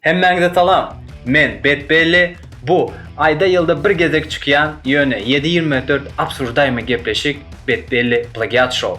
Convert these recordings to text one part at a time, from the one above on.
Hemmäňize salam. Men Bet Belli. Bu aýda ýylda bir gezek çykýan, ýöne 724 absurdaýmy gepleşik Bet Belli plagiat show.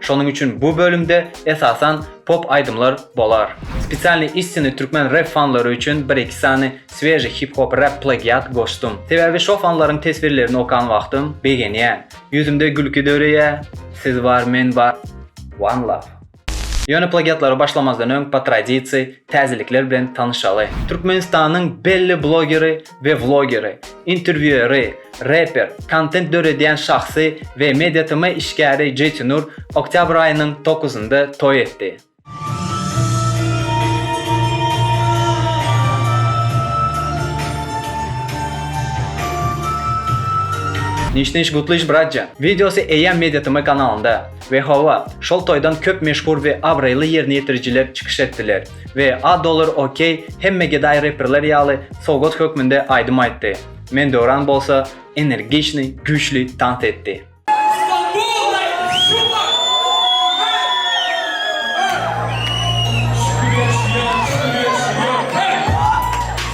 Şonuň üçin bu bölümde esasan pop aýdymlar bolar. Spesialnyý istinýi türkmen rep fanlary üçin bir-iki sany sweži hip-hop rep plagiat goşdum. Sebäbi şo fanlaryň teswirlerini okan wagtym begenýän. Ýüzümde gülki döreýär. Siz bar, men bar. One love. Ýöne plagiatlara başlamazdan öň po tradisiýa täzelikler bilen tanyşaly. Türkmenistanyň belli blogeri we wlogeri, interwýueri, reper, kontent döredýän şahsy we MediaTm işgäri Jeytinur oktýabr aýynyň dokuzynda toý etdi. Niş niş gutlyş bratja. Wideosy eýýäm MediaTm kanalynda. We hawa, şol toýdan köp meşhur we abraýly ýerine ýetirijiler çykyş etdiler. we A Dollar OK hemme gedaý reperler ýaly sowgat hökmünde aýdym aýtdy, Men Döwran bolsa energiçnyý, güýçli tans etdi.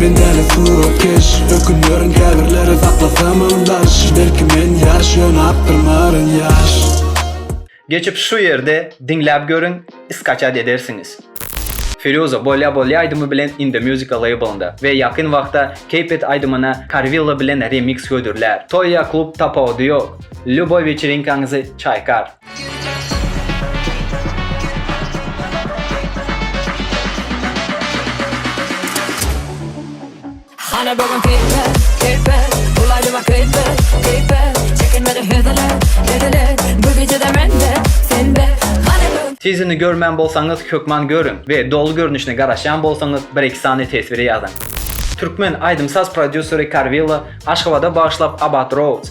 Men däli suratkeş, ökünýärin käbirleri saklasamam daş Belki men ýaş, ýöne akdyrmaryn ýaş. Geçip şu ýerde diňläp görüň skaçat edersiňiz. Firýuza Bolýa Bolýa aýdymy bilen In The Musica labelynda we ýakyn wagtda Keep It aýdymyna Karwilla bilen remix hödürlär. Toý ýa klub tapawudy ýok. Lýuboý weçerinkaňyzy çaýkar. Hany bugün keýpe, keýpe, Bulaýdyma keýpe, keýpe, Çekinmedi heziler, heziler, Bu gijede mende, sende, Hany bugün. Tizini görmän bolsaňyz hökman görüň we doly görnüşine garaşýan bolsaňyz bir iki sany teswiri ýazyň. Türkmen aýdym-saz prodýuseri Karwilla Aşgabada bagyşlap Abat Roads,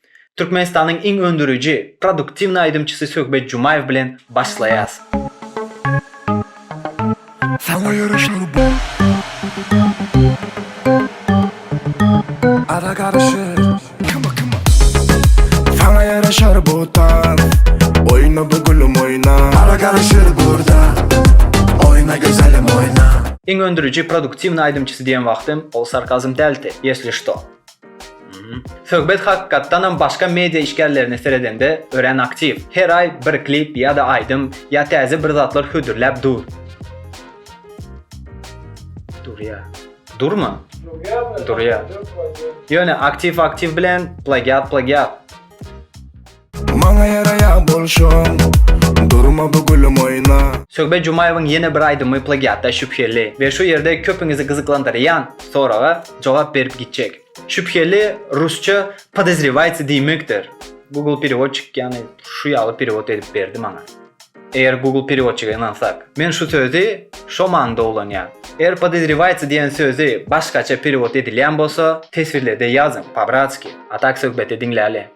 Türkmenistanyň iň öndüriji, produktiwny aýdymçysy Söhbet Jumaýew bilen başlaýas. Saňa ýaraşar bu. Ada garyşyr. Kima kima. Saňa ýaraşar bu tans. Oýna bu gülüm oýna. Ada garyşyr burda. Oýna gözelim oýna. Iň öndüriji, produktiwny aýdymçysy diýen wagtym, ol sarkazm dälti, ýesli şto. Söhbet hakykatdanam başga media işgärlerine seredende örän aktiw. Her aý bir klip ýa-da aýdym ýa täze bir zatlar hödürläp dur. Durýar. Durmy? Durýar. Ýöne aktiw-aktiw bilen plagiat-plagiat. Maňa ýaraýa bolşuň Durma bu gülüm oýna. Söhbet Jumaýewiň ýene bir aýdymy plagiatda şübheli we şu ýerde köpüňizi gyzyklandyrýan soraga jogap berip gitjek. Şübheli rusça podozrewayts diýmekdir. Google perewodçik ýagny şu ýaly perewod edip berdi maňa. Eger Google perewodçige ynansak. Men şu sözi şo manyda ulanýan. Eger podozrewayts diýen sözi başgaça perewod edilýän bolsa teswirlerde ýazyň, pabratski. A tak söhbeti diňläli.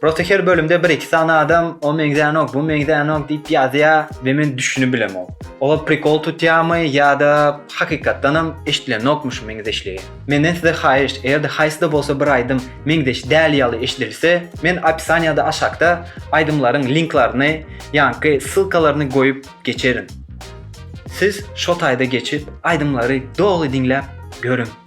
Prosta her bölümde bir iki sany adam o meňzänok, bu meňzänok diýip ýazýa we men düşünibilemok. Olar prikol tutýamy ýa-da hakykatdanam eşdilenokmy şu meňzeşligi. Menden size haýyşt, eger-de haýsy-da bolsa bir aýdym meňzeş däl ýaly eşidilse, men opisaniýada aşakda aýdymlaryň linklaryny, ýaňky ssylkalaryny goýup geçerin. Siz şo taýda geçip aýdymlary doly diňläp görüň.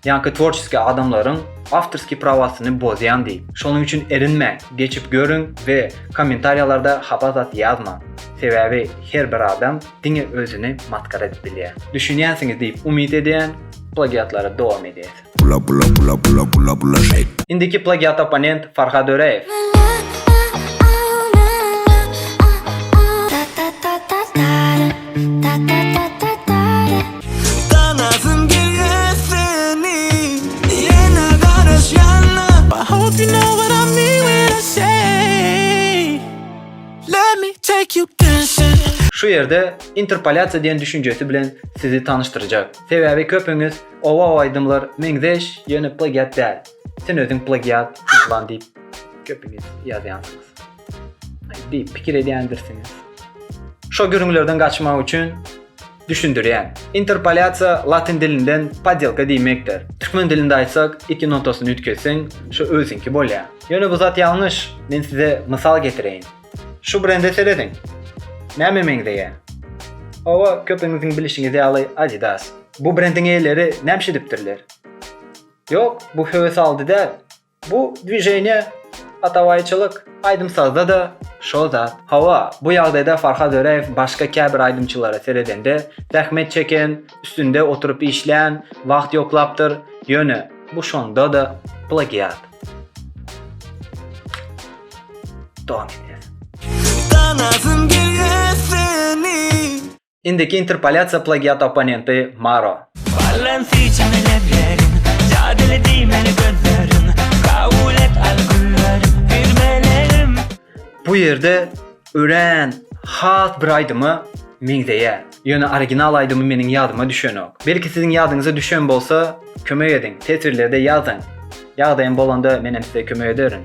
Ýa-ki tworçeskiý adamlaryň awtorskiý prawasyny bozýan diýip. Şonuň üçin erinmäň, geçip görüň we kommentariýalarda hapa zat ýazmaň. Sebäbi her bir adam diňe özüni masgara edip bilýär. Düşünýänsiňiz diýip umyt edýän, plagiatlara dowam edýäs. Bula bula bula bula bula bula şeýt. Indiki plagiat opponent Farhad Öreýew. Tanasym gelýär seni Ýene garaşýanna I hope you know what I mean when I say Let me take you dancing Şu ýerde interpolýasiýa diýen düşünjesi bilen sizi tanyşdyrjak. Sebäbi köpüňiz oba oba aýdymlar meňzeş, ýöne plagiat däl. Sen özüň plagiat, plan diýip köpüňiz ýazýansyňyz. diýip pikir edýändirsiňiz. Şo gürrüňlerden gaçmak üçin düşündirýän. Interpolýasiýa latyn dilinden podýelka diýmekdir. Türkmen dilinde aýtsak, iki notasyny üýtgetseň, şo özüňki bolýar. Ýöne bu zat ýalňyş. Men size mysal getireýin. Şu brende serediň. Nämä meňzeýär? Hawa, köpüňiziň bilişiňiz ýaly Adidas. Bu brendiň eýeleri näme edipdirler? Ýok, bu höwes aldy däl. Bu dwiženiýe atabaýçylyk. Aýdym-sazda-da şol zat. Hawa, bu ýagdaýda Farhad Öräýew başga käbir aýdymçylara seredende, zähmet çeken, üstünde oturyp işlän, wagt ýoklapdyr, ýöne bu şonda-da plagiat. Dowam edýäs. Tanasym gelýär seni. Indiki interpolýasiýa plagiat opponenti Maro. Balansi çyny leblerim, jadyly diýmeli gözlerim, kabul et al güllerim, bir meleğim. Bu ýerde örän has bir aýdyma meňzeýär. Ýöne original aýdymy meniň ýadyma düşenok. Belki siziň ýadyňyza düşen bolsa, kömek ediň, teswirlerde ýazyň. Ýagdaýym bolanda menem size kömek ederin.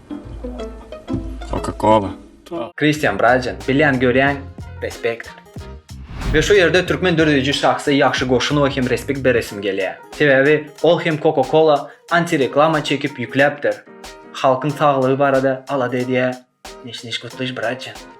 Coca Cola. Christian Brajan bilýän görýän respekt. Ve şu ýerde türkmen dörediji şahsa ýagşy goşunowa hem respekt beresim gelýär. Sebäbi ol hem Coca Cola anti reklama çekip ýükläpdir. Halkyň saglygy barada alada edýär. Neşneş gutlyş Brajan.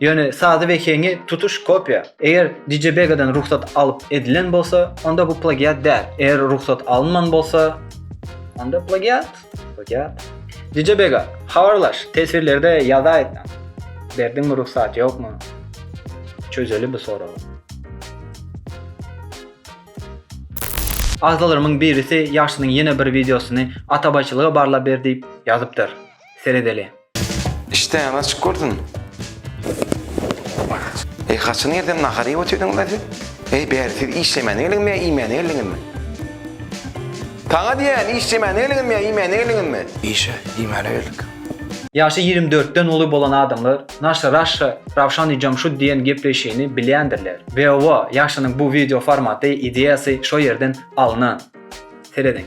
Ýöne sazy we heňi tutuş kopýa. Eger DJ Begadan rugsat alyp edilen bolsa, onda bu plagiat däl. Eger rugsat alynman bolsa, onda plagiat. Plagiat. DJ Bega, habarlaş, teswirlerde ýazaýsan. Berdiňmi rugsat, ýokmy? Çözeli bu soragy. Agzalarymyň birisi ýaşsynyň ýene bir wideosyny atabaýçylyga barlap ber diýip ýazypdyr. Seredeli. Işdäňiz açyk bolsun. Eý haçan ýerden nahar iýip otyrdyňyzda siz? Eý bäri siz işlemänä geldiňizmi ýa iýmänä geldiňizmi? Saňa diýýän işlemänä geldiňizmi ýa iýmänä geldiňizmi? Işe, iýmäne geldik. Ýaşy ýigrimi dörtden uly bolan adamlar Naşa Raşa Rawşan Ijamşud diýen gepleýşini bilýändirler. Weowa ýaşynyň bu wideo formaty ideýasy şo ýerden alnan. Serediň.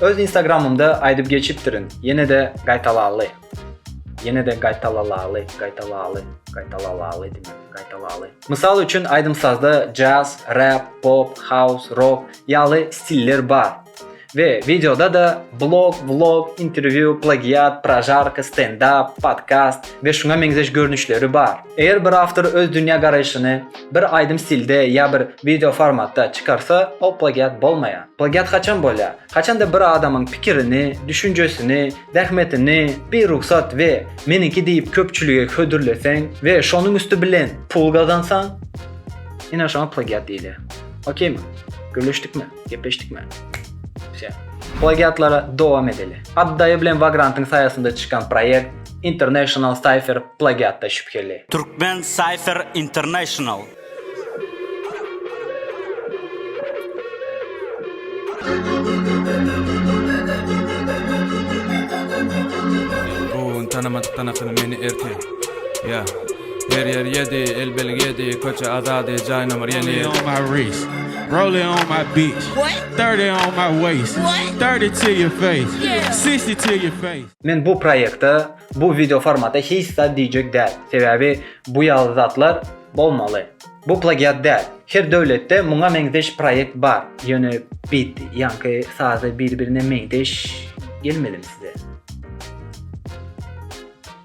Öz instagramymda aýdyp geçipdirin, ýene-de gaýtalaly. Ýene-de gaýtalalaly, gaýtalaly, gaýtalalaly diýmek, gaýtalaly. Mysal üçin aýdym-sazda jazz, rap, pop, haus, rok ýaly stiller bar. We wideoda-da blog, vlog, interwýu, plagiat, prožarka, stendap, podkast we şuňa meňzeş görnüşleri bar. Eger bir awtor öz dünýä garaýşyny bir aýdym stilde ýa bir wideo formatda çykarsa, ol plagiat bolmaýar. Plagiat haçan bolýar? Haçanda bir adamyň pikirini, düşünjesini, zähmetini birugsat we meniňki diýip köpçülige hödürleseň we şonuň üsti bilen pul gazansaň, ine şoňa plagiat diýilýär. Okeymi? Gürleşdikmi? Gepleşdikmi? Wse. Plagiatlara dowam edeli. Addaýy bilen Vagrantyň saýasynda çykan proýekt International Cypher plagiatda şübheli. Türkmen Cypher International. Bu gün tanamadykdan akyny meni ertir. Yeah. Her ýer ýedi, el belgi ýedi, Köçe azady, jaý nomer ýedi. Rollie on my wrist, rollie on my bitch, Thirty on my waist, thirty to your face, Sixty to your face. Men bu proýekte, bu wideo formata hiç zat diýjek däl, sebäbi bu ýaly zatlar bolmaly. Bu plagiat däl. Her döwletde muňa meňzeş proýekt bar, ýöne bit, ýaňky sazy bir-birine meňzeş gelmedimi size?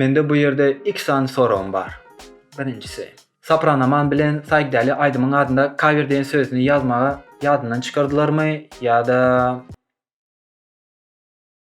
Mende bu ýerde iki sany soragym bar. Birinjisi. Sopranoman bilen Saýkdäli aýdymyň adynda kawer diýen sözüni ýazmagy ýadyndan çykardylarmy ýa-da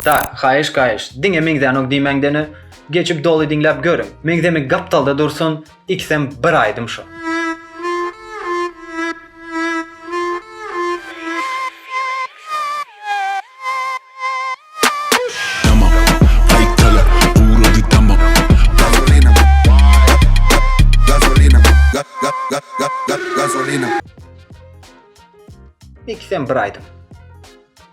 Tak, haýyş gaýyş, diňe meňzänok diýmäňdene, geçip doly diňläp görüň, meňzemik gapdalda dursun, ikisem bir aýdym şo. Ikisem bir aýdym.